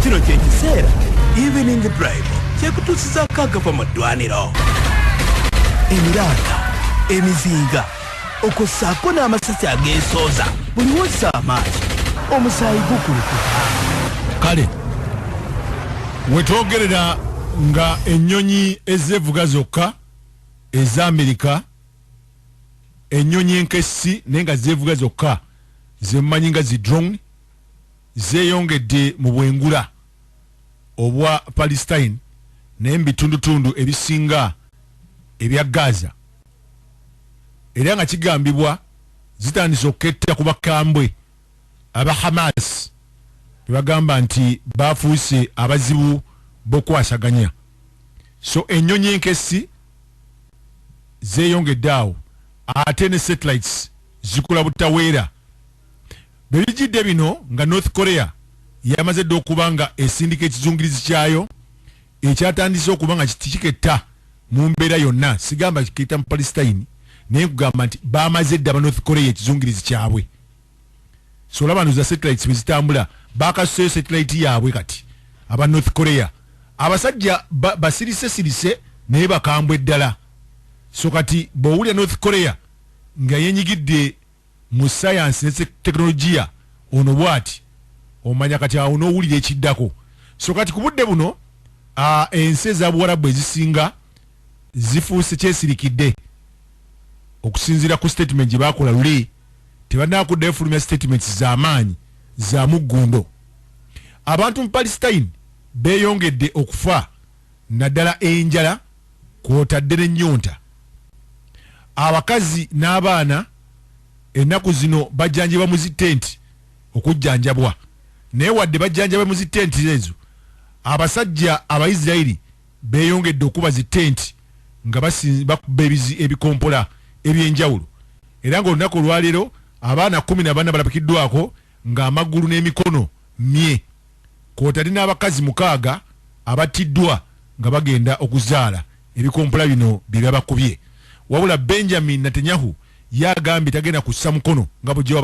kino kyekiseera evening drive kyekutuusizako agava mu ddwaniro emiranga emizinga okwo ssaako n'amasasi ageesooza buli wossa amaanyi omusaayi gukulukuka kale wetwogerera nga ennyonyi ezevuga zokka eza amerika ennyonyi enkessi naye nga zeevuga zokka zemumanyi nga zi drone zeeyongedde mu bwengula obwa Palestine naye mu bitundutundu ebisinga ebya Gaza era nga kigambibwa zitandise okuketta ku bakambwe aba Hamas be bagamba nti baafuuse abazibu b'okukwasaganya. So ennyonyi enkessi zeeyongedde awo ate ne satellites zikula butaweera. Bwe bijjidde bino nga North Korea yamaze dda okuba nga esindika ekizungirizi kyayo ekyatandise okuba nga kiketta mu mbeera yonna sigamba kiketta mu Palestine naye nkugamba nti bamaze dda aba North Korea ekizungirizi kyabwe. so olaba no za satellites wezitambula bakasuseyo satellite yaabwe kati aba north korea abasajja basirise sirise naye bakambwe ddala so kati bwowulira north korea nga yenyigidde mu sayansi ne tekinologiya ono bwati omanya kati awo nowulira ekiddako so kati ku budde buno ensi eza buwarabu ezisinga zifuuse kyesirikidde okusinziira ku statement gye bakola luli tebanaba kudda efulumya statements zamaanyi za muggundo abantu mu palestine beyongedde okufa naddala enjala kwotadde nenyonta abakazi n'abaana ennaku zino bajjanjibwa mu zitenti okujjanjabwa naye wadde bajjanjabwe mu zitenti ezo abasajja abaisirairi beeyongedde okukuba zi tenti nga bakuba ebikompola eby'enjawulo era nga olunaku olwaleero abaana kkumi na bana balabikiddwako nga amagulu n'emikono mye kwotadde n'abakazi mukaaga abattiddwa nga bagenda okuzaala ebikompola bino byebyabakubye wabula Benjamin Natenyahu ye agambye tagenda kussa mukono nga bwegye